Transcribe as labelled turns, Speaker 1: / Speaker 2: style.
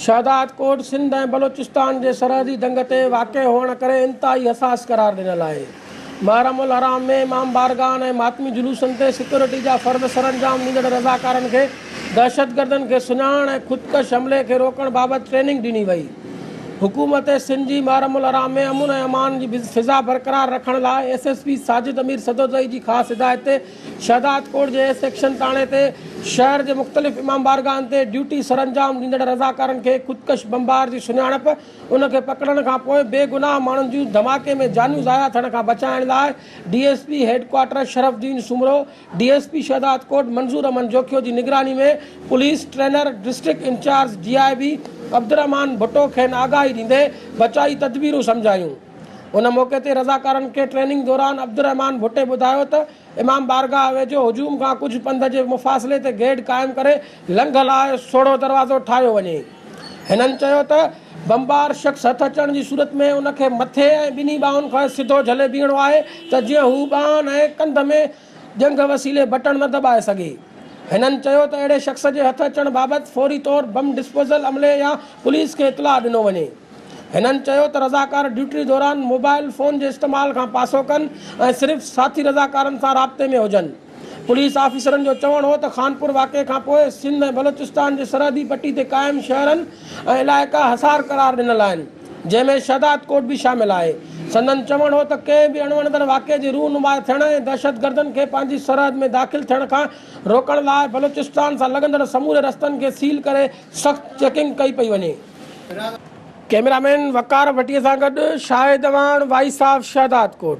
Speaker 1: شهدادڪوٽ سنڌ ۽ بلوچستان جي سرحدي دنگ تي واقع هئڻ ڪري انتهائي حساس قرار ڏنل آهي. محرم الحرام ۾ امام بارگاهن ۽ ماتمي جلوسن تي سيڪيورٽي جا فرض سرانجام ڏيندڙ رضاڪارن کي دهشتگردن کي سڃاڻڻ ۽ خودڪش حملي کي روڪڻ بابت ٽريننگ ڏني وئي. حڪومت سنڌ جي محرم الحرام ۾ امن ۽ امان جي فضا برقرار رکڻ لاء S S P Sajid Amir Sadozai جي خاص هدايت تي شهدادڪوٽ جي سيڪشن ٿاڻي تي شهر جي مختلف امام بارگاهن تي ڊيوٽي سرانجام ڏيندڙ رضاڪارن کي خودڪش بمبار جي سڃاڻپ، ان کي پڪڙڻ کانپوء بي گناهه ماڻهن جون ڌماڪي ۾ جانيون ضايع ٿيڻ کان بچائڻ لاء D S P headquarter Sharaf uddin Soomro, D S P Shahdadkot Manzoor Ahmed Jokhio جي نگراني ۾ police trainer district incharge D I B Abdulrahman Bhutto کين آگاهي ڏيندي بچائي تدبيرون سمجهايون. ان موقعي تي رضاڪارن کي ٽريننگ دوران عبدالرحمان ڀٽي ٻڌايو ته امام بارگاهه ويجهو هجوم کان ڪجهه پنڌ جي مفاصلي تي گيٽ قائم ڪري لنگهه لاء سوڙهو دروازو ٺاهيو وڃي. هنن چيو ته بمبار شخص هٿ اچڻ جي صورت ۾ ان کي مٿي ۽ ٻنهي ٻانهن کان سڌو جهلي بيهڻو آهي ته جيئن هو ٻانهن ۽ ڪنڌ ۾ ڄنگهه وسيلي بٽڻ نه دٻائي سگهي. هنن چيو ته اهڙي شخص جي هٿ اچڻ بابت فوري طور بم ڊسپوزل عملي يا پوليس کي اطلاع ڏنو وڃي. هنن چيو ته رضاڪار ڊيوٽي دوران موبائل فون جي استعمال کان پاسو ڪن ۽ صرف ساٿي رضاڪارن سان رابطي ۾ هجن. پوليس آفيسرن جو چوڻ هو ته خانپور واقعي کانپوء سنڌ ۽ بلوچستان جي سرحدي پٽي تي قائم شهرن ۽ علائقا حصار قرار ڏنل آهن. جنهن ۾ شهداد ڪوٽ به شامل آهي. سندن چوڻ هو ته ڪنهن به اڻوڻندڙ واقعي جي رونما ٿيڻ ۽ دهشتگردن کي پنهنجي سرحد ۾ داخل ٿيڻ کان روڪڻ لاء بلوچستان سان لڳندڙ سموري رستن کي سيل ڪري سخت چيڪنگ ڪئي پئي وڃي. ڪئميرا مين وقار ڀٽي سان گڏ Shahid Awan voice of Shahdad Kot.